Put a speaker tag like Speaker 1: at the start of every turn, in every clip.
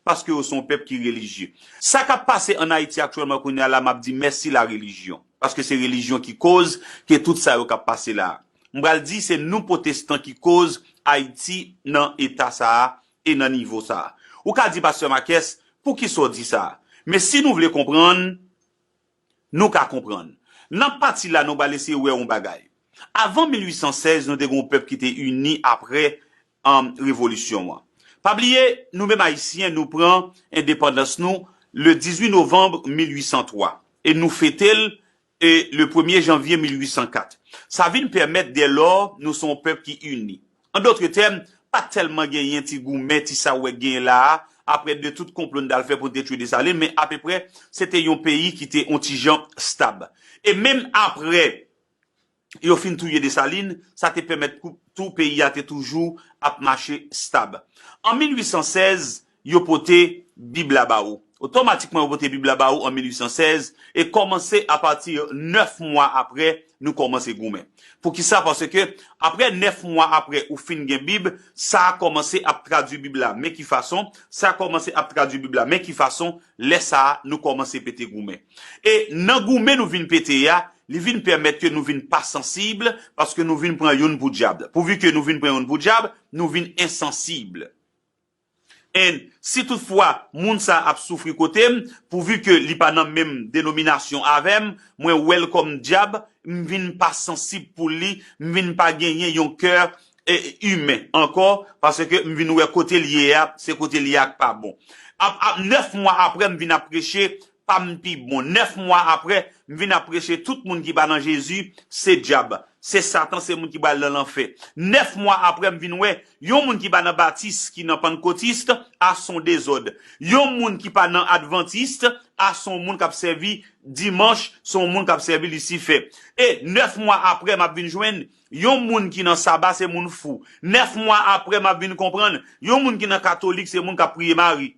Speaker 1: Paske yo se yon pèp ki relijye. Sa kap pase an Ayiti aktyèlman kounye a la map di mèsi la relijyon. Paske se relijyon ki koz ke tout sa yo kap pase la. M pral di se nou potestan ki koz Ayiti nan eta sa a e nan nivo sa a. Ou ka di pastè Makès, poukisa w di sa a? Men si nou vle konprann, Nou ka konprann. Nan pati la nou pral eseye wè yon bagay. Avan 1816 nou te gen yon pèp ki te ini apre revolisyon an. Pa bliye nou menm Ayisyen nou pran endepandans nou le 18 novanm 1803 e nou fete l le premye janvye 1804. Sa vin pèmèt dèlò nou se yon pèp ki ini. An dotre tèm, pa tèlman genyen ti goumen, ti sa ou wè k genyen la a, apre de tout konplo n t al fè pou n te tchwe Desalin, men apeprè, se te yon peyi ki te on ti jan stab. E menm apre yo fin touye Desalin, sa te pèmèt tou peyi a te toujou ap mache stab. An 1816, Yo pote Bib la ba ou. Otomatikman yo pote Bib la ba ou an 1816 e kòmanse apati nèf mwa apre nou kòmanse goumen. Poukisa? Paske apre nèf mwa apre ou fin gen Bib, sa a kòmanse ap tradui Bib la. Men ki fason, sa a kòmanse ap tradui Bib la. Men ki fason, lè sa a, nou kòmanse pete goumen. E nan goumen nou vin pete a, li vin pèmèt ke nou vin pa sansib, paske nou vin pran youn pou dyab. Pouvi ke nou vin pran youn pou dyab, nou vin ensansib. And si tout fwa moun sa ap soufri kotem pouvu ke li pa nan menm denominasyon avem mwen wel kom dyab m vin pa sansib pou li m vin pa genyen yon keur humain anko paske m vin we kotel ye a se kotel ye a k pa bon ap ap 9 mwa apre m vin ap preche pa m pi bon 9 mwa aprè m vin ap preche tout moun ki pa nan Jezi se djab se satan se moun ki pral nan lanfè 9 mwa aprè m vin wè yon moun ki pa nan batiste ki nan pannkotiste a son dezòd yon moun ki pa nan adventiste a son moun kap sèvi dimanch son moun kap sèvi lisifè e 9 mwa aprè map vin jwenn yon moun ki nan saba se moun fou 9 mwa aprè map vin konprann yon moun ki nan katolik se moun kap priye mari.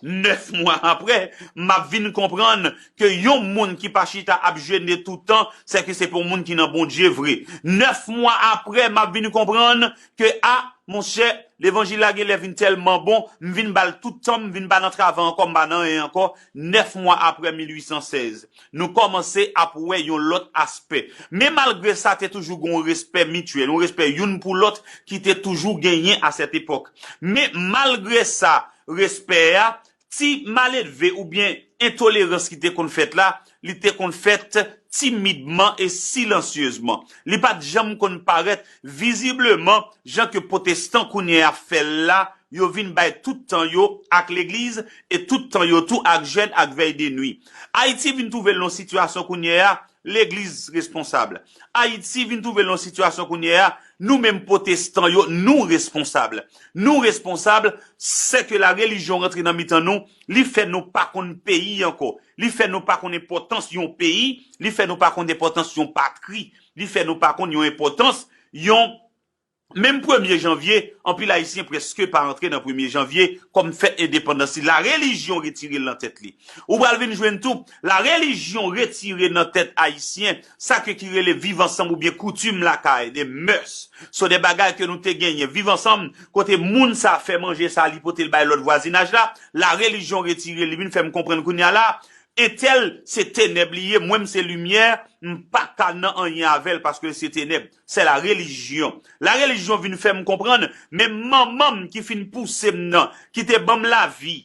Speaker 1: 9 mwa aprè, m ap vin konprann ke yon moun ki pa chita ap jene tout tan, se ke se pa yon moun ki nan Bondye vre. 9 mwa aprè, m ap vin konprann ke, a, monchè, levanjil la genlè vin tèlman bon, m vin ba l tout tan m, m vin pa nan travay ankò, m pa nan anyen ankò, 9 mwa aprè 1816. Nou kòmanse ap wè yon lòt aspè. Men malgre sa te toujou gen yon respè mityèl, yon respè youn pou lòt ki te toujou genyen a sèt epòk. Men malgre sa respè a, ti maledve oubyen entolerans ki te konn fèt la, li te konn fèt timidman e silansyezman. Li pa t janm konn parèt vizibleman jan ke pwotestan kounye a fè l la, yo vin bay tout tan yo ak legliz e tout tan yo tou ak jèn ak vèy de nwi. Ayiti vin twouve l nan yon sitiyasyon kounye a, legliz responsab. Ayiti vin twouve l nan yon sitiyasyon kounye a, nou menm pwotestan yo nou responsab. Nou responsab, se ke la relijyon rantre nan mitan nou, li fè nou pa konn peyi ankò, li fè nou pa konn enpòtans yon peyi, li fè nou pa konn enpòtans yon patri, li fè nou pa konn yon enpòtans yon. Menm premye janvye, anpil Ayisyen prèske pa antre nan premye janvye kòm fèt endepandans li. Larelijyon retire l nan tèt li. Ou pral vin jwenn tou, larelijyon retire nan tèt Ayisyen sa ke ki rele viv ansanm oubyen koutim lakay, des mœurs. So de bagay ke nou te genyen. Viv ansanm, kote moun sa fè manje sa li pote l bay lòt vwazinaj la, larelijyon retire li vin fè m konprann kounye a la, entèl se tenèb li ye, mwen m se limyè, m pa ka nan anyen avè l paske l se tenèb. Se la relijyon. La relijyon vin fè m konprann menm manman m ki fin pouse m nan, ki te ban m lavi,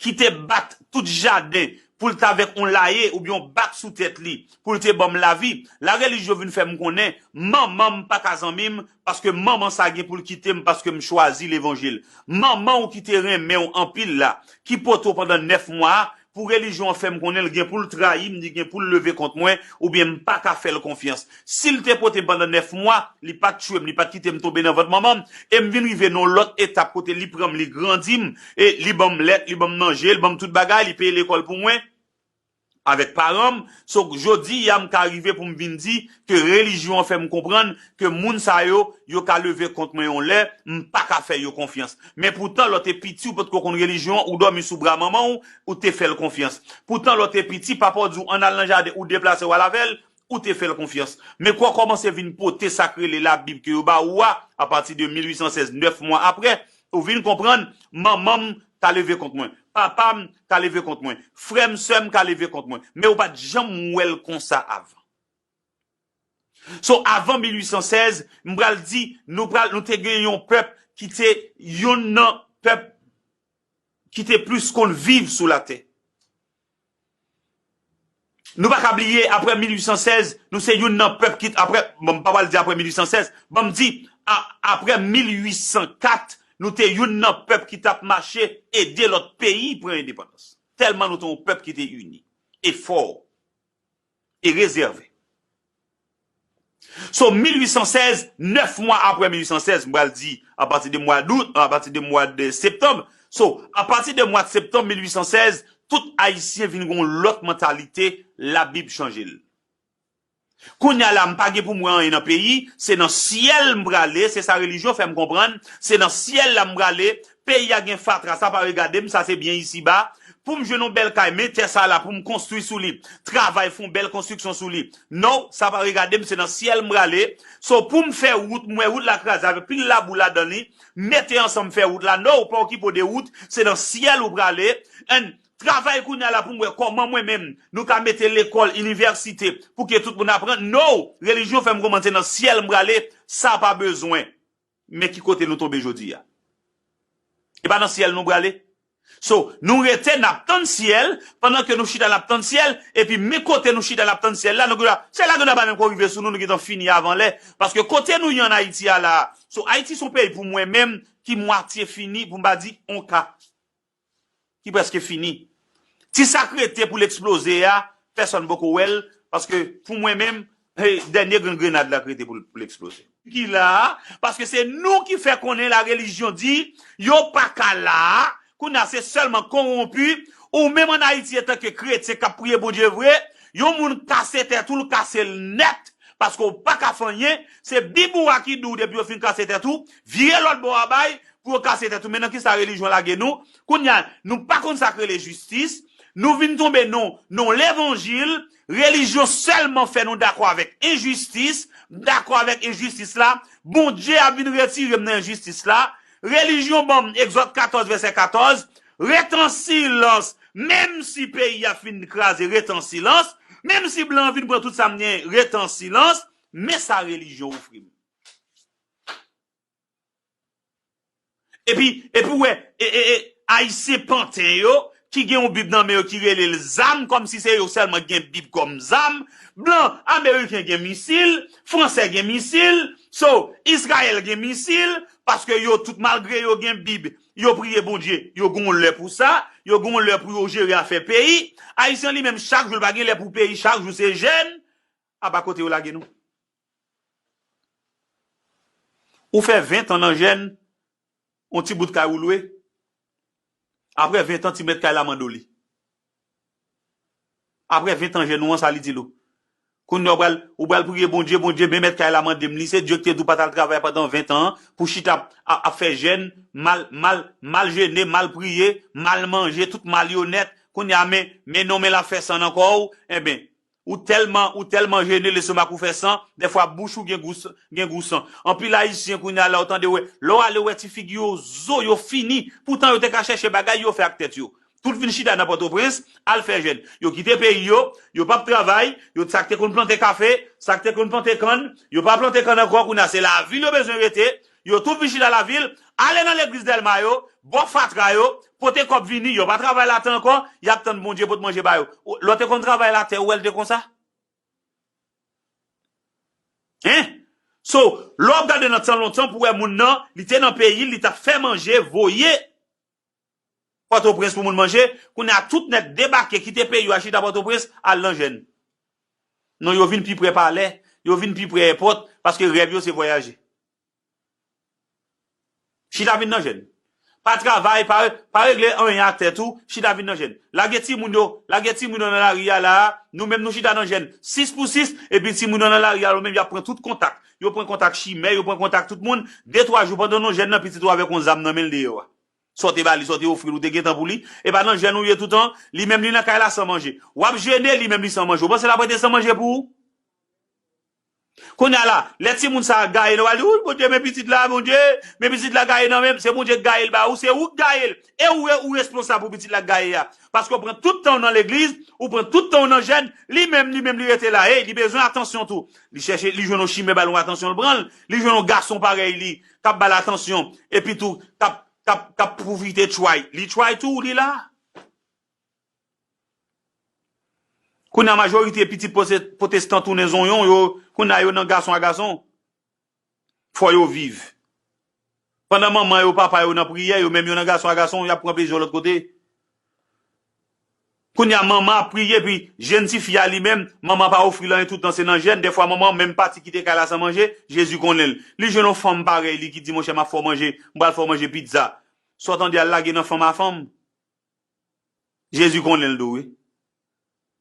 Speaker 1: ki te bat tout jaden pou l t avèk on laye oubyen on bak sou tèt li pou l te ban m lavi, la relijyon vin fè m konnen manman m pa ka zanmi m paske manman sa gen pou l kite m paske m chwazi levanjil. Manman w ki te renmen w anpil la, ki pote w pandan 9 mwa a, Pou relijyon an fè m konnen l gen pou l trayi m, li gen pou l leve kont mwen, oubyen m pa ka fè l konfyans. Si l te pote m pandan nèf mwa, li pa t tchwe m, li pa t kite m tonbe nan vant manman m, e m vin rive nan yon lòt etap kote li pran m, li grandi m, e li ban m lèt, li ban m manje, li ban m tout bagay, li peye lekòl pou mwen, avèk paran m, so jodi a m ka rive pou m vin di, ke relijyon an fè m konprann ke moun sa yo, yo ka leve kont mwen yon lè, m pa ka fè yo konfyans. Men poutan lè w te piti ou pa t ko konn relijyon an, ou dòmi sou bra manman w, ou te fè l konfyans. Poutan lè w te piti, papa w di w an n al nan jaden, ou deplase w al avè l, ou te fè l konfyans. Men kou w kòmanse vin pote sa k rele Labib ke yo ba ou a, apati de 1816, 9 mwa apre, ou vin konprann, manman m ka leve kont mwen, papa m ka leve kont mwen, frè m, sè m ka leve kont mwen, men ou pa t janm wè l konsa avan. So avan 1816, m pral di nou pral nou te gen yon pèp ki te yonn nan pèp ki te plis konn viv sou latè. Nou pa ka bliye aprè 1816, nou se yonn nan pèp ki aprè, bon m pa pral di aprè 1816, banm di aprè 1804, nou te yonn nan pèp ki t ap mache ede lòt peyi pran endepandans. Tèlman nou te yon pèp ki te ini e fò. e rezève. So 1816, 9 mwa apre 1816, m pral di a pati de mwa dout, a pati de mwa de septanm, so a pati de mwa de septanm 1816, tout Ayisyen vin gen yon lòt mantalite, labib chanje l. Kounya la m pa gen pou m wè anyen nan peyi, se nan syèl m prale, se sa relijyon fè m konprann, se nan syèl la m prale, Peyi a gen fatra sa pa regadem sa se byen isi ba poum jwenn yon bèl kay men tè sa la poum konstwi sou li travay fon bèl konstriksyon sou li now sa pa regadem se nan syèl m prale so poum fè wout m wè wout la kraze avèk pil labou ladan li mete ansanm fè wout la now pa okipe w de wout se nan syèl ou prale and travay kounya la poum wè kòman mwen menm nou ka mete lekòl inivèsite pouki tout moun aprann now relijyon fèm konprann se nan syèl m prale sa pa bezwen. Men ki kote nou tonbe jodi a. E pa nan syèl nou prale? So, nou rete n ap tann syèl, pandan ke nou chita n ap tann syèl, epi men kote nou chita n ap tann syèl la, nou gen dwa, syèl la gen dwa pa menm ko rive sou nou, nou gen tan fini avan lè. Paske kote nou ye an Ayiti a la a, so Ayiti se yon peyi pou mwen menm ki mwatye fini, pou m pa di on ka. ki preske fini. Ti sak rete pou l eksploze a, pèsòn poko wè l, paske pou mwen menm, se dènye grenn grenad la k rete pou l eksploze. Ki la a, paske se nou ki fè konnen la relijyon di, yo pa ka la a, kounye a se sèlman konwonpi, ou menm an Ayiti etanke kretyen k ap priye Bondye vre, yon moun kase tèt ou, l kase l nèt, paske ou pa ka fanyen, se bib ou a ki di w depi yo fin kase tèt ou, vire lòt bò a bay, Pou yo kase tèt ou men nan kisa relijyon lage nou kounya nou pa konn sak rele jistis nou vin tonbe non non levanjil relijyon sèlman fè nou dakò avèk enjistis m dakò avèk enjistis la Bondye ap vin retirem nan enjistis la relijyon banm egzòd 14 vèsè 14 ret an silans menm si peyi a fin kraze ret an silans menm si blan an vin pran tout sam gen ret an silans men sa relijyon ofrim. Epi ou wè Ayisyen panten yo ki gen yon bib nan men yo ki rele l zam kòm si se yo sèlman ki gen bib kòm zam. Blan ameriken gen misil, fransè gen misil, so Izrayèl gen misil paske yo tout malgre yo gen bib, yo priye Bondye, yo gen yon lè pou sa, yo gen yon lè pou yo jere afè peyi. Ayisyen li menm chak jou l pa gen lè pou peyi chak jou se jèn. Aba kote yo lage nou. Ou fè 20 tan nan jèn, yon ti bout kay ou lwe, aprè 20 tan ti mèt kay la mande w li. Aprè 20 tan jèn ou an sa li di l ou. Kounye a ou pral, ou pral priye Bondye, Bondye men mèt kay la mande m li, se Dye ki te di w pa t al travay pandan 20 tan an, pou chita ap ap fè jèn, mal, mal, mal jene, mal priye, mal manje, tout mal yo nèt, kounye a men, men non men l ap fè san nan kò ou, enben, Ou telman ou telman jene lestomak ou fè san, dèfwa bouch ou gen gou gen gou san. Anpil ayisyen kounya la ou tande wè, lè w ale wè ti figi yo zo yo fini, poutan yo te ka chèche bagay yo fè ak tèt yo. Tout vin chita nan pòtoprens al fè jèn. Yo kite peyi yo, yo pap travay, yo sa k te konn plante kafe, sa k te konn plante kann, yo pa plante kann ankò kounya se lavil yo bezwen rete, Yo tou vin chita lavil, ale nan legliz Dèlma yo, bò fatra yo, pote kòb vini, yo pa travay latè ankò, y ap tann Bondye pot manje ba yo. Lò te konn travay latè, ou wè l te konsa? Hein? So, lò w ap gade nan tan lontan pou wè moun nan, li te nan peyi l, li t ap fè manje, voye. Pòtoprens pou moun manje, kounye a tout nèt debake kite peyi yo al chita Pòtoprens al nan jèn. Non yo vin pi prè palè, yo vin pi prè èpòt paske rèv yo se vwayaje. Chita vin nan jèn. Pa travay, pa regle anyen ak tèt ou, chita vin nan jèn. Lage timoun yo, lage timoun yo nan lari a la a, nou menm nou chita nan jèn 6 pou 6 epi timoun yo nan lari a yo menm y ap pran tout kontak, yo pran kontak chimè, yo pran kontak tout moun, de twa jou pandan non jèn nan pitit ou avèk yon zam nan men l deyò a. Sa w te ba li, sa w te ofri l, ou te gen tan pou li? E pa nan jèn ou ye toutan? Li menm li nan kay la san manje. W ap jene, li menm li san manje. Ou panse l ap rete san manje pou ou? Kounye a la, lè timoun sa a gaye, nou pral di, Wouy Bondye, men pitit la, Bondye, men pitit la gaye nan men m. Se Bondye ki gaye l ba ou, se ou ki gaye l. E ou, ou responsab pou pitit la ki gaye a. Paske w pran tout tan w nan legliz, ou pran tout tan w nan jèn, li menm, li menm li rete la. Ey, li bezwen atansyon tou. Li chèche, li jwenn yon chimè ba l yon atansyon, l pran l. Li jwenn yon gason parèy li, k ap ba l atansyon epi tou k ap k ap pwofite tchway li tchway tou li la. Kounye a majorite pitit potestan tounen zonyon yo kounye a yo nan gason a gason fò yo viv pandan manman yo papa yo nan priyè yo menm yo nan gason a gason y ap pran plezi yo lòt kote. Kounya manman ap priye epi jèn ti fi a li menm manman an pa ofri l anyen tout tan se nan jèn, dèfwa manman an menm pati kite kay la san manje, Jezi konnen l. Li jwenn yon fanm parèy li ki di monchè m ap fè w manje, m pral fè w manje pizza. Sa w tande a l lage nan fanm a fanm. Jezi konnen l tou wi.